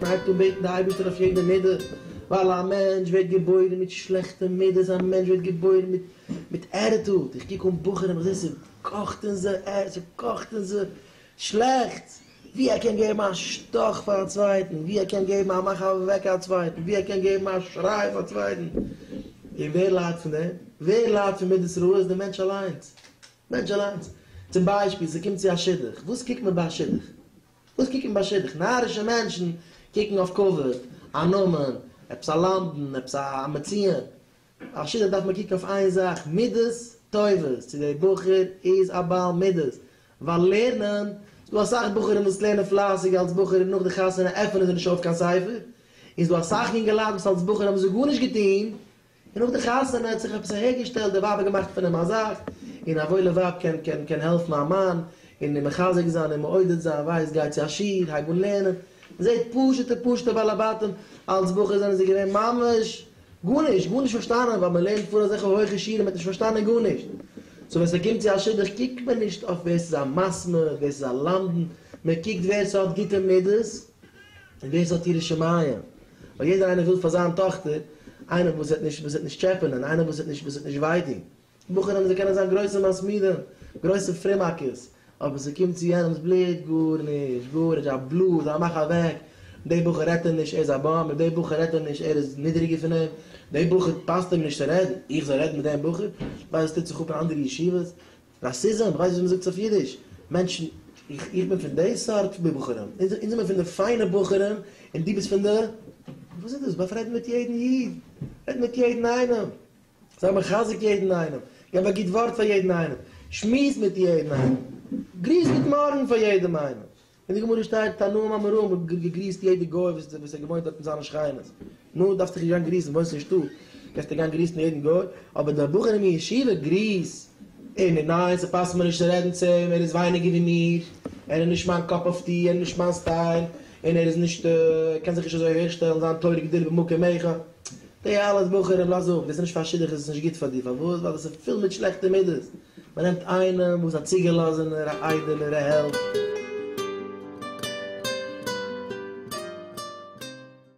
מ'הייבט אן בעטן די אייבערשטער אויף יעדע מידה, ווייל א מענטש ווערט געבוירן מיט שלעכטע מידות, א מענטש ווערט געבוירן מיט מיט ערטעלט, איך קוק אן בחורים איך זע ס'קאכט אין זיי, ס'קאכט אין זיי, שלעכטס, ווי ער קען געבן א שטאך פאר א צווייטן, ווי ער קען געבן א מאך אוועק א צווייטן, ווי ער קען געבן א שריי פאר צווייטן. און ווער ליידט פון דעם? ווער ליידט פון מידות רעות? דער מענטש אליינס. מענטש אליינס. צום ביישפיל, ס'קומט צו א שידוך, וואס קוקט מען ביי א שידוך? וואס קוקט מען ביי שידוך? נארישע מענטשן קוקן אויף כבוד, א נאמען, עפעס א למדן, עפעס א מציון. א שידוך דארף מען קוקן אויף איין זאך מידות טובות, צו דער בחור איז א בעל מידות, ווייל לערנען, ס'איז דא אסאך בחורים וואס לערנען פלייסיג אלס בחור און נאך די חתונה עפענען זיי נישט אויף קיין ספר, און ס'איז דא אסאך יונגעלייט וואס אלס בחור האבן זיי גארנישט געטון, און נאך די חתונה האט זיך עפעס אהער געשטעלט, די ווייב האט געמאכט פון אים א זאך, און א וואוילע ווייב קען קען קען העלפן א מאן, און אים מחזק זיין און מעודד זיין, ווייז גיי צו א שיעור, הייב אן לערנען, מען זעט פשוטע פשוטע בעלי בתים, אלס בחור זענען זיי געווען ממש גארנישט, גארנישט פארשטאנען, ווייל מען לערנט פאר אזעלכע הויכע שיעורים האט נישט פארשטאנען גארנישט. סאו ווען ס'קומט צו א שידוך קוקט מען נישט אויף ווער ס'איז א מסמר, ווער ס'איז א למדן, מען קוקט ווער ס'האט גוטע מידות און ווער ס'האט יראת שמים. ווייל יעדער איינער וויל פאר זיין טאכטער איינעם וואס וועט נישט טשעפענען, איינעם וואס וועט נישט וויי טון. כמו כן האבן זיי קענען זיין גרויסע מסמידים, גרויסע פרימאקעס, אבער ס'קומט צו יענעמ'ס בלוט, גארנישט, גארנישט, א בלאס, א מאך אוועק, די בחור רעדט אים נישט, ער איז א באם, מיט די בחור רעדט ער נישט, ער איז נידעריגער פון אים, די בחור פאסט אים נישט צו רעדן, איך זאל רעדן מיט דעם בחור? ווייל עס טוט זיך אפ אין אנדערע ישיבות? ראסיזם, איך ווייס נישט ווי מ'זאגט עס אויף אידיש, מענטשן, איך, איך בין פון די סארט בחורים, אונז, אונז זעמיר פון די פיינע בחורים, און דו ביסט פון די, וואס איז דאס, באפרייד מיט יעדן איד, רעד מיט יעדן איינעם. זיי מחזק יעדן איינעם, געב א גוט ווארט פאר יעדן איינעם, שמועס מיט יעדן איינעם, גריס גוט מארגן פאר יעדעם איינעם, אין די גמרא שטייט תנאים אמורים האט געגריסט יעדע גוי וואס איז וואס האט געוואוינט דארט אין זיינע שכינות, נו, דארפסט דיך נישט גיין גריסן, וואוינסט אין שטאט, קענסטו גיין גריסן יעדן גוי, אבער די בחור אין ישיבה, גריס אים, און ניין, ס'פאסט מיר נישט צו רעדן צו אים, ער איז ווייניגער ווי מיר, ער איז נישט מיין קאפ אף טי, ער איז נישט מיין סטייל, און ער איז נישט, ער קען זיך נישט אזוי אהערשטעלן, זיין תורה גדולה במקום איכה. די אלע בחורים לאז אפ, ביסט נישט פאר שידוך איז עס נישט גוט פאר דיר, פארוואס? ווייל דאס איז פול מיט שלעכטע מידות, מען נעמט איינעם וואס א צוגעלאזענער, א איידעלער, א העלד.